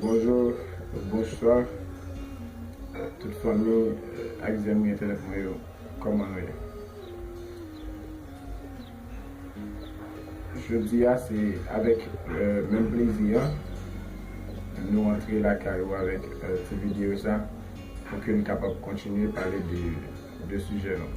Bonjou bonswa tout fanmi ak zanmi entènèt mwen yo kòman nou ye jodi a se avèk menm plezi an nou antre lakay ou avèk ti videyo sa pou ke nou kapab kontinye pale de sijè nou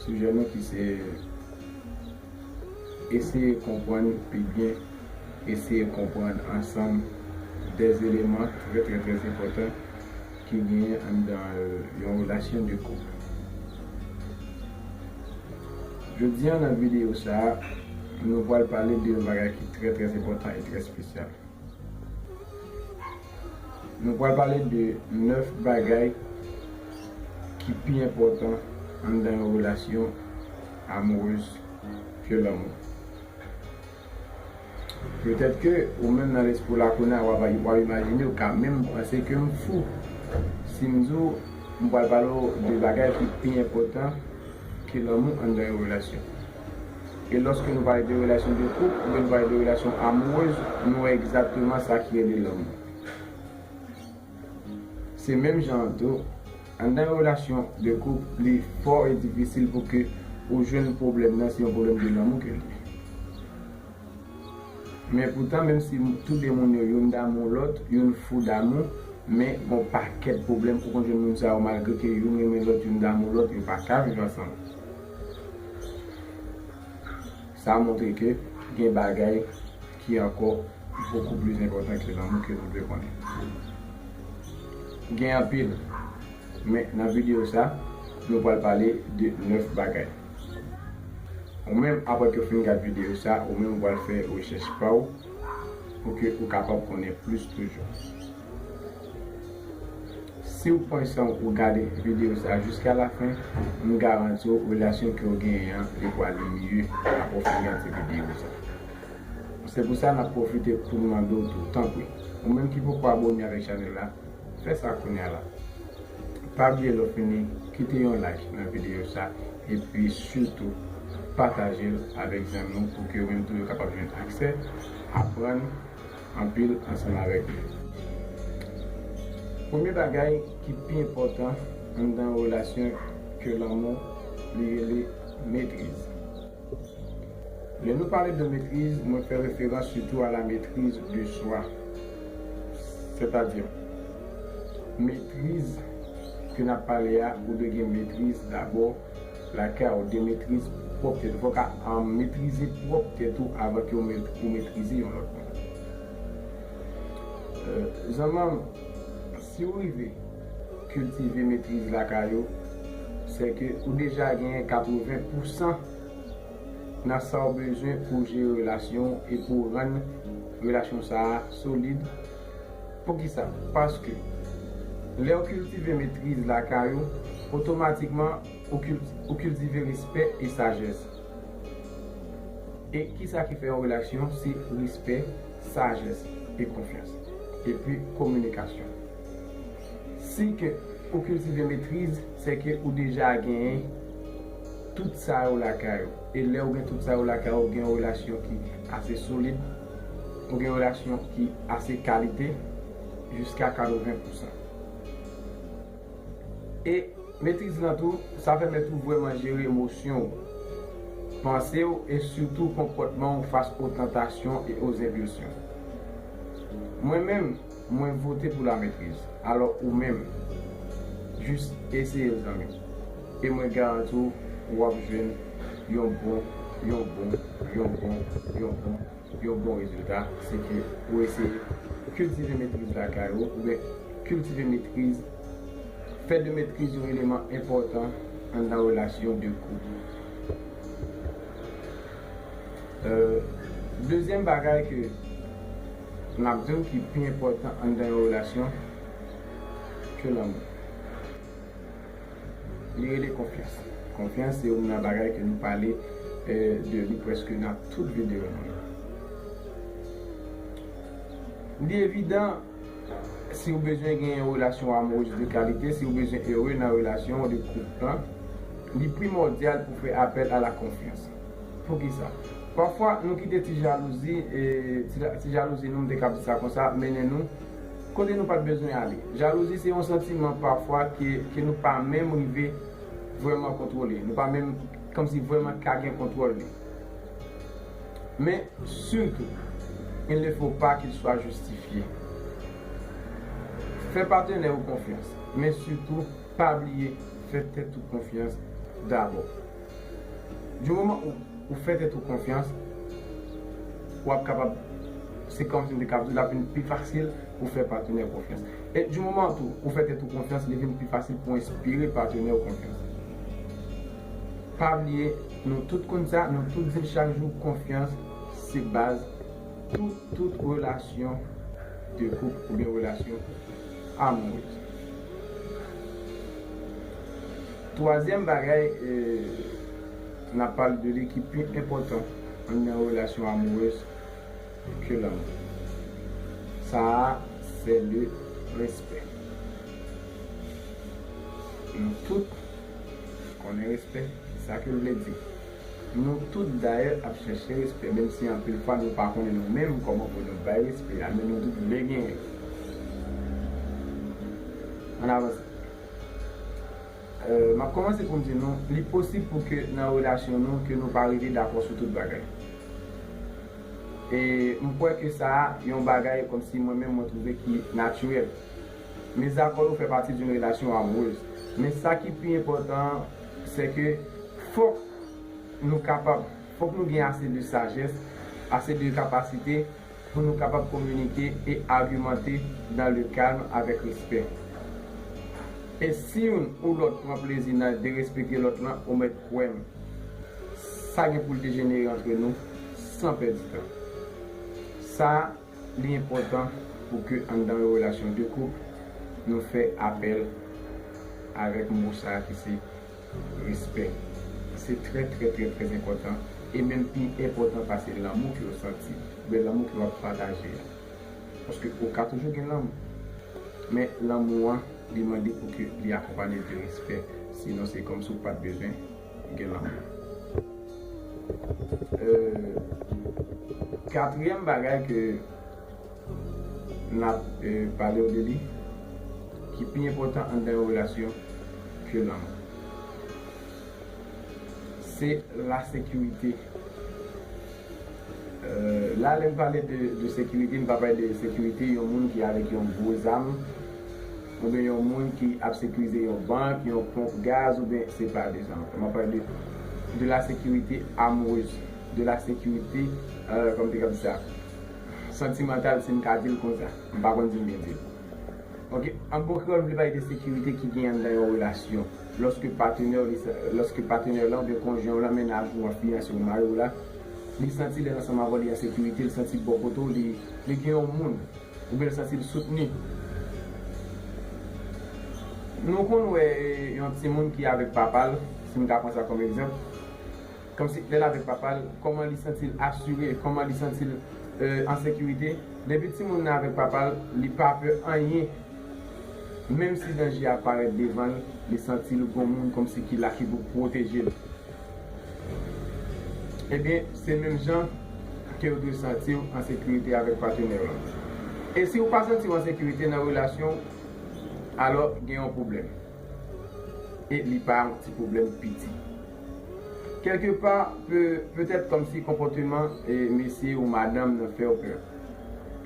sijè nou ki se Eseye konprann pi byen Eseye konprann ansanm de eleman trè trè trè enpòtan ki genyen anndan yon relasyon de koup. Jodi an nan videyo sa a, nou pral pale de yon bagay ki trè trè enpòtan e trè espesyal. Nou pral pale de 9 bagay ki pi enpòtan anndan yon relasyon. Amoureuse ke lanmou. Petèt ke ou menm nan lespri w la kounye a w ap imajine ou ka menm panse ke m fou si m di w m pral pale w de bagay ki pi enpòtan ke lanmou anndan yon relasyon. E lòske nou pale de relasyon de koup oubyen nou pale de relasyon amoureuse nou wè egzakteman sa ki rele lanmou. Se menm jan an tou, anndan yon relasyon de koup li fò e difisil pou ke ou jwenn pwoblèm nan se yon pwoblèm de lanmou ke li ye. Men poutan menm si tou de moun yo youn damou lòt, youn fou damou, men gon pakèt pwoblèm ou konn jwenn moun sa yo malgre ke youn renmen lòt, youn damou lòt yo pa ka viv ansanm. Sa montre ke gen bagay. ki ankò bokou plis enpòtan ke lanmou ke nou dwe konnen. Gen anpil, men nan videyo sa, nou pral pale de 9 bagay. Ou menm aprè ke w fin gad videyo sa, ou menm ou pral fè rechèch pa w pou ke ou kapab konnen plis toujou. Si w pran san w pou w gade videyo sa jiska lafen, m garanti w relasyon ke w genyen an li pwale mye aprè w fin gade videyo sa. Se pou sa nap profite poun mande w tou tanpri ou menm ki poko abone avèk chanèl la fè sa kounya la pa bliye lè w fini kite yon like nan videyo sa epi sitou pataje l avèk zanmi w pou ke yo menm tou yo kapab jwenn aksè aprann anpil ansanm avèk nou premye bagay ki pi enpòtan anndan yon relasyon ke lanmou li rele metriz. Lè nou pale de metriz, mwen fè referans sitou a la metriz de swa, sètadi, metriz ke n ap pale a, ou dwe gen metriz dabò lakay ou, gen metriz pwòp tèt ou. Fò w ka metrize pwòp tèt ou avan ke ou metrize yon lòt moun. Zanman m. Si ou rive kiltive metriz lakay ou, se ke ou deja genyen 80 pousan nan sa ou bezwen pou w jere relasyon ou e pou w rann relasyon sa a solid. Poukisa? Paske, lè ou kiltive metriz lakay ou, otomatikman ou kiltive respè e sajès. E kisa ki fè yon relasyon se respè sajès e konfyans. Epi kominikasyon. Siy ke ou kiltive metriz, se ke ou deja genyen tout sa yo lakay ou. E lè ou gen tout sa yo lakay ou, ou gen yon relasyon ki ase solid, ou gen yon relasyon ki ase kalite jiska 80 pousan. E metriz lan tou, sa pèmèt ou vrèman jere emosyon ou, panse ou e sitou konpòtman ou fas o tantasyon e o zenpilsyon. Mwen menm, mwen vote pou la metriz. Alò ou menm? Jis eseye l zanmi m. E mwen garanti w, w ap jwenn yon bon, yon bon, yon bon, yon bon. Yon bon rezilta se ke ou eseye kiltive metriz lakay ou oubyen kiltive metriz, fè de metriz yon eleman enpòtan anndan relasyon de koup ou. Dezyèm bagay ke m ap di ou ki pi enpòtan anndan yon relasyon ke lanmou. Li rele konfyans. Konfyans se youn nan bagay ke nou pale de li preske nan tout videyo nou yo. Li evidan, si ou bezwen gen yon relasyon amoureuse de kalite, si ou bezwen ere nan relasyon ou, de koup lan, li primòdyal pou fè apèl a la konfyans. Poukisa? Pafwa, nou kite ti jalouzi, ti jalouzi nou, m te kab di sa konsa, mennen nou. Kote nou pat bezwen ale. Jalouzi se yon santiman pafwa ke nou pa menm rive vrèman kontwole. Nou pa menm kòmsi vrèman ka gen kontwòl li. Men, sitou, il ne faut pas qu'il soit justifié. Fè patenè ou konfyans, men sitou pa bliye fè tèt ou konfyans dabò. Du moman ou fè tèt ou konfyans, ou ap kapab, se kòm si m te kapab di l ap vin pi fasil pou w fè patenè w konfyans. E du moman tou ou fè tèt ou konfyans, li vin pi fasil pou w enspire patenè w konfyans. Pa bliye, nou tout konn sa, nou tout di l chak jou, konfyans se baz tout tout relasyon de koup oubyen relasyon amourez. Twazyèm bagay n ap pale de li ki pi enpòtan anndan relasyon amourez ke lanmou sa a se le respè. Nou tout konnen respè ki sa ke l vle di. Nou tout dayè ap chèche respè menm si anpil fwa nou pa konnen nou menm kòman pou nou bay respè a men nou tout vle genyen. Ann avanse. M ap kòmanse pou m di nou, li posib pou ke nan relasyon nou ke nou pa rive dakò sou tout bagay. E m kwè ke sa a yon bagay kòmsi mwen menm mwen twouve ki natirèl. Mezakò yo fè pati d'une relation amoureuse. Men sa ki pi enpòtan an, sè ke fòk nou kapab, fòk nou gen ase de sajès, ase de kapasite, Pou nou kapab kominike e agimante nan le kalm avèk respè. E si youn ou lòt pran plezi nan derespekte lòt lan ou mèt kwè m sa gen pou l dejenere antre nou san pèdi tan. Sa li enpòtan pou ke anndan yon relasyon de koup nou fè apèl avèk mo sa ki se. Respè. Se trè trè trè trè enpòtan e menm pi enpòtan pase lanmou ke w santi oubyen lanmou ke w ap pataje a. Paske ou ka toujou gen lanmou. Men lanmou an li mande pou ke li akonpanye l de respè. Sinon se kòm si ou pat bezwen gen lanmou. Katriyèm bagay ke. N ap pale w de li ki pi enpòtan anndan yon relasyon ke lanmou. Se lasekirite. La lè m pale de sekirite, m pa pale de sekirite yon moun ki avèk yon gwo zam oubyen yon moun ki ap sekirize yon bank, yon ponp gaz oubyen se pa de sa m ap pale. M ap pale de lasekirite amourez, de lasekirite, kòman m te kab di sa? Santimantal si m ka di l konsa. M pa konn si m byen di l. Ok. An bon kreyòl m vle pale de sekirite ki genyen anndan yon relasyon. Lòske patenè w, lòske patenè w lan oubyen konjwen w lan, mennaj ou an, fiyanse w, mari w la, li santi lè l ansanm avè w li an sekirite, li santi bò kote w li, li gen yon moun oubyen l santi l soutni. Nou konn wè yon timoun ki avèk papa l, si m ka pran sa kòm egzanp. kòmsi lè l avèk papa l, kòman li santi l asire, kòman li santi l an sekirite. Depi timoun nan avèk papa l, li pa pè anyen. Menm si danje a parèt devan l, li santi l gon moun kòmsi ki la ki pou pwoteje l. Ebyen, se menm jan ke w dwe santi w an sekirite avèk patenè w lan. E si w pa santi w an sekirite nan relasyon w, alò gen yon pwoblèm. e li pa yon ti pwoblèm piti. Kèlke pa, petèt kòmsi konpòteman mesye ou madanm nan fè w pè.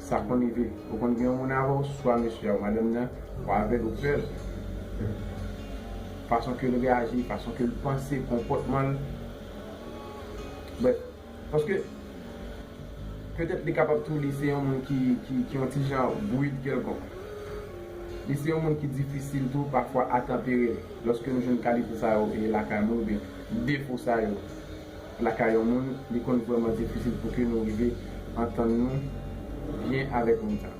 Sa konn rive. Ou konn gen yon moun avè w, swa mesye a ou madanm nan, ou avè l, ou pè l. Fason ke l reyaji, fason ke l panse, konpòtman l, brèf. Paske, petèt li kapab tou li se yon moun ki yon ti jan brid kèlkonk. Li se yon moun ki difisil tou pafwa a tanpere. Lòske nou jwenn kalite sa yo lakay moun oubyen defo sa yo lakay yon moun, li konn vrèman difisil pou ke nou rive antann nou byen avèk moun sa.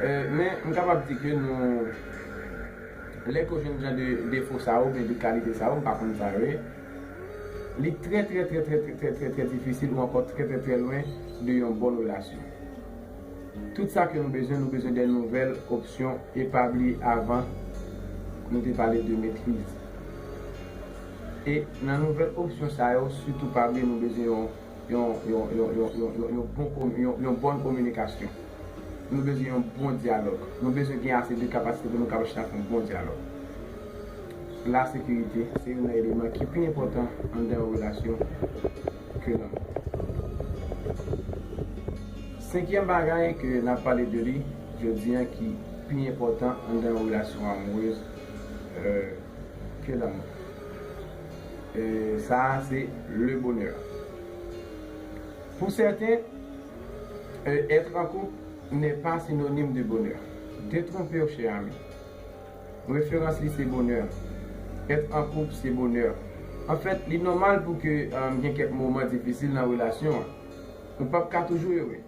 Men, m kapab di ke nou, lè ke w jwenn jan de defo sa yo oubyen de kalite sa yo, m pa konn sa yo ye, li trè trè trè trè trè trè trè difisil ou ankò trè trè trè lwen de yon bon relasyon. Tout sa ke nou bezwen, nou bezwen de nouvèl opsyon e pa bliye avan nou te pale de metriz. E nan nouvèl opsyon sa yo sitou pa bliye nou bezwen yon. yon bòn kominikasyon. Nou bezwen yon bon dyalòg. Nou bezwen gen ase de kapasite pou nou kapab chita fè yon bon dyalòg. Lasekirite se youn nan eleman ki pi enpòtan anndan yon relasyon ke lanmou. Senkyèm bagay ke n ap pale de li jodi an ki pi enpòtan anndan yon relasyon amourez ke lanmou. Sa a se le bonheur. Pour certains, être en couple n'est pas synonyme de bonheur. Detronpe w chè ami. Referans li se bonheur. Être en couple se bonheur. En fait, li nòmal pou ke gen kèk moman difisil nan relasyon an. Ou pap ka toujou ere.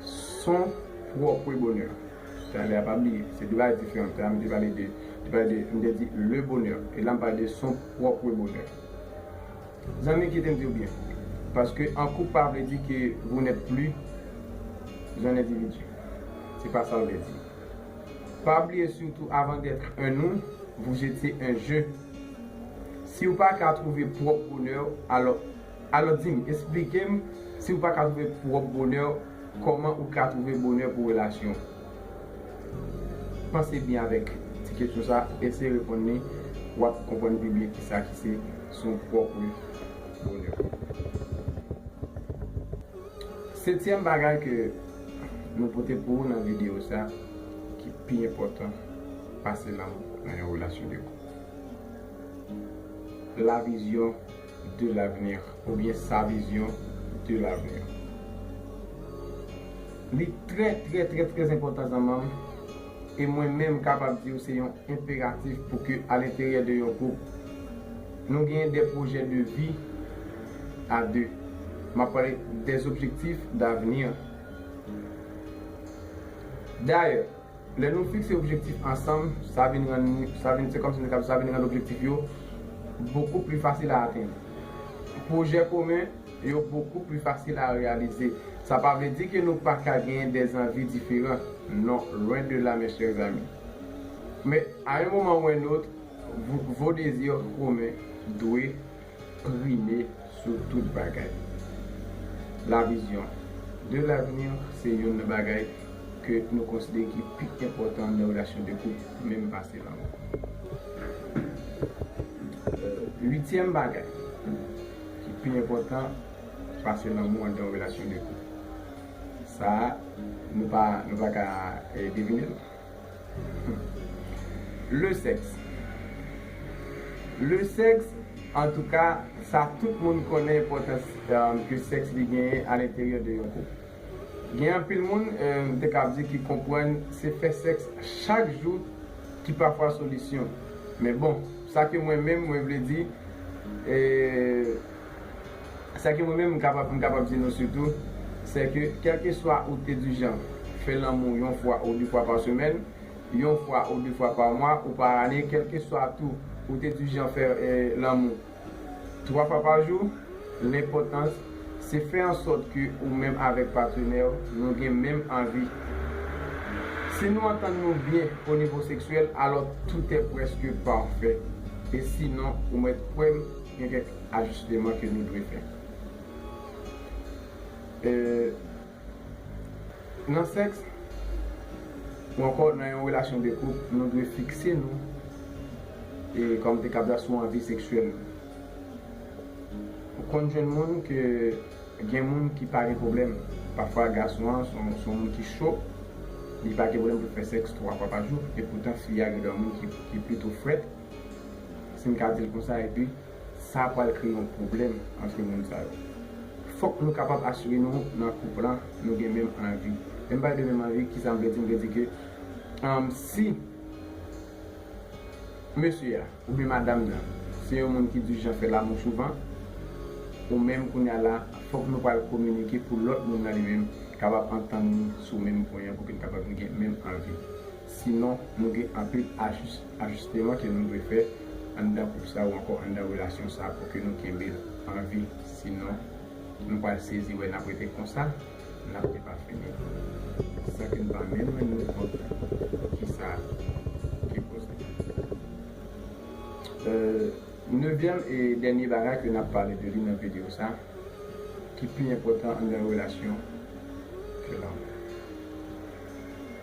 Son trop wi bonheur. Talè a pa bliye se 2 bagay diferan talè a m te pale de te pale de m te di le bonheur e la m pale de son prop wi bonheur zanmi kite m di w byen paske an koup pa vle di ke vou nèt pli jan endividi se pa sa l vle di pa bliye sitou avan dèt un nou vou jetye un je si w pa ka trouve prop bonheur w alò Alò di m, esplike m, si ou pa ka twouve pwòp bonè w, kòman ou ka twouve bonè pou relasyon w? Panse byen avèk ti kesyon sa, eseye reponn li, w ap konprann pi byen kisa ki se son pwòpre bonè. Setyèm bagay ke nou pote pou ou nan videyo sa ki pi enpòtan pase lanmou nan yon relasyon de koup, la vizyon de l'avenir oubyen sa vision de l'avenir li trè trè trè trè enpòtan zanmanm e mwen menm kapab diw se yon enperatif pou ke a lenteryè de yon koup nou genyen de projè de vi a 2 map pale de objectif d'avenir dayè. Lè nou fikse objektif ansanm, sa vin rann li, sa vin, se kòmsi nou ta di sa vin rann objektif yo bokou pli fasil a atenn. Pwojè komen yo bokou pli fasil a reyalize. Sa pa vle di ke nou pa ka genyen de zanvi diferan, non, lwen de la mes chers amis. Men, a un moment ou un autre, vos désirs communs dwe. prime sou tout bagay. La vision de l'avenir se youn nan bagay ke nou konsidere ki pi enpòtan nan relasyon de koup, menm pase lanmou. Uityèm bagay ki pi enpòtan pase lanmou anndan yon relasyon de koup. Sa a, nou pa ka devine'l. Le sex Le sex antouka sa tout moun konnen enpòtans ke sex li genyen a lenteryè de yon koup. Gen anpil moun m te kab di ki konprann se fè sex chak jou ki pafwa solisyon men bon sa ke mwen menm mwen vle di e. Sa ke mwen menm m kapab m kapab di nou sitou, sè ke kèlkeswa ou te di jan fè lanmou yon fwa ou de fwa pa semèn, yon fwa ou de fwa pa mwa ou pa ane, kèlkeswa tou ou te di jan fè lanmou twa fwa pa jou, lenpòtans se fè an sòt ke ou menm avèk patenè w nou gen menm anvi. Si nou antann nou byen o nivo seksyèl, alò toutè prèske pafè. E sinon, ou mèt kwè m, gen kèk. ajisteman ke nou dwe fè. E nan sèks ou ankò nan yon relasyon de koup, nou dwe fikse nou e kòm te kab la sou anvi seksyèl nou. Ou konn jwenn moun ke gen moun ki pa gen pwoblèm, pafwa gason an son moun ki cho, li pa gen pwoblèm pou l fè sèks 3 fwa pa jou, epoutan fi a gen dwa moun ki pito frèt, si m ka di l konsa, epi sa pral kreye yon pwoblèm antre moun sa yo. Fòk nou kapab asire nou nan koup lan nou gen menm anvi. Lè m pale de menm anvi, kisa m vle di? M vle di ke si mesye a oubyen madam nan se yon moun ki di jan fè lamou souvan, ou menm kounye a la fòk nou pral kominike pou lòt moun nan li menm kapab antann li sou menm pwen an pou ke l kapab gen menm anvi. Sinon, nou gen anpil ajisteman ke nou dwe fè anndan koup sa ou ankò anndan relasyon sa pou ke nou kenbe l an vi. Sinon, nou pral sezi wè n ap rete konsa, n ap depafini san ke n pa menm rann nou kont ki sa ki koz li. Nevyèm e dènye bagay ke n ap pale de li nan videyo sa ki pi enpòtan anndan relasyon, se lanmou.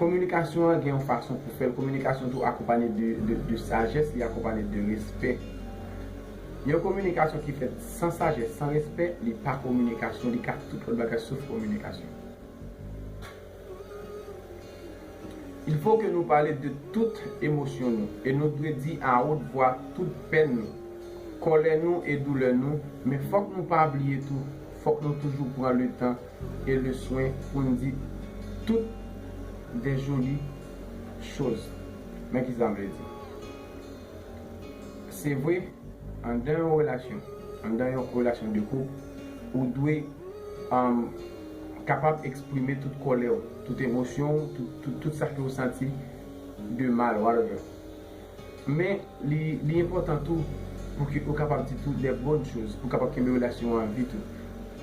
Kominikasyon an gen yon fason pou fèl, kominikasyon tou akonpanye de sajès, li akonpanye de respè. Yon kominikasyon ki fèt san sajès, san respè, li pa kominikasyon, li ka tout lòt bagay sof kominikasyon. Il fo ke nou pale de tout emosyon nou e nou dwe di a wot vwa tout pèn nou, kòlè nou e doulè nou, men fòk nou pa bliye tou, fòk nou toujou pran le tan e le swen pou n di tout de joli choz. Men ki sa m vle di. Se vre, anndan yon relasyon, anndan yon relasyon de koup, ou dwe kapab eksprime tout kòlè w, tout emosyon w, tout sa ke ou santi de mal, whatever. Men, li enpòtan tou pou ke ou kapab di tou de bòn choz pou kapab kenbe relasyon an vi tou.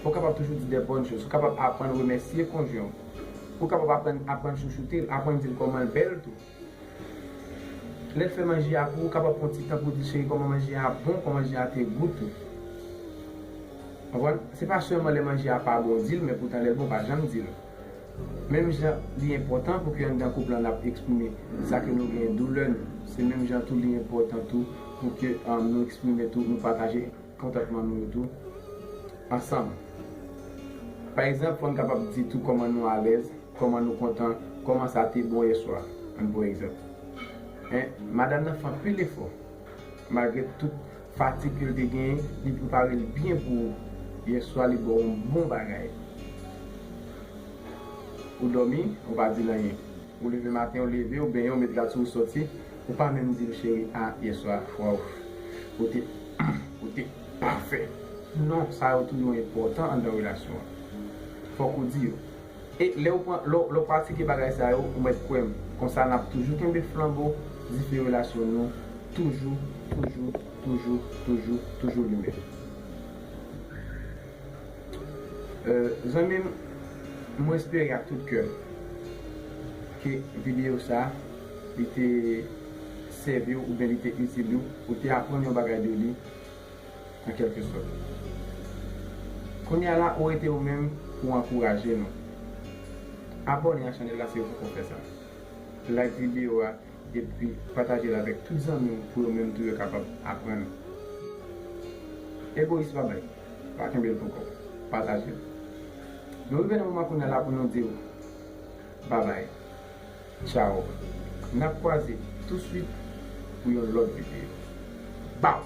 Ou kapab toujou di de bòn choz. Ou kapab aprann remèsye konjwen ou. Ou kapab aprann aprann chouchoute l, aprann di l kòman l bèl tou. Lè l fè manje a pou ou, kapab pran yon ti tan pou di l cheri kòman manje a bon, kòman manje a te gou tou. Konprann? Se pa sèlman lè manje a pa bon ou di l, men poutan lè l bon ou pa janm di l. Menm jan li enpòtan pou ke anndan koup lan n ap eksprime sa ke nou genyen, doulè nou, se menm jan tou li enpòtan tou pou ke nou eksprime tou, nou pataje kontantman nou yo tou ansanm. Pa egzanp, fò n kapab di tou kòman nou alèz, kòman nou kontan, kòman sa te bon yèswa an pou egzanp. Men, madanm nan fè anpil efò malgre tout. Fatig ke l te genyen, li prepare l byen pou ou. Yèswa li ba w yon bon bagay. Ou dòmi, ou pa di l anyen. Ou leve maten, ou leve, ou benyen, ou met rad sou ou sòti, ou pa menm di l cheri a yèswa waww ou te ou te pafè. Non, sa yo tou yo enpòtan anndan relasyon an. Fòk ou di yo. E lè ou pran, lè ou pratike bagay sa yo, ou mèt kwè m, konsa n ap toujou kenbe flanbo dife relasyon nou toujou, toujou, toujou, toujou, toujou limen. Zanmi m, mwen espere ak tout kè m ke videyo sa li te sèvi w oubyen li te itil ou, ou te aprann yon bagay de li, an kèlke sòt. Kounye a la ou rete ou menm pou ankouraje nou. Abòne ak chanèl la si ou poko fè sa. Like videyo a epi pataje l avèk tout zanmi w pou yo menm tou yo kapab aprann. Egoyis pa bay, pa kenbe l pou kò w, pataje l. Nou rive nan moman kounye a la pou nou di w Babay. Tchao nap kwaze tou swit pou yon lòt videyo baww.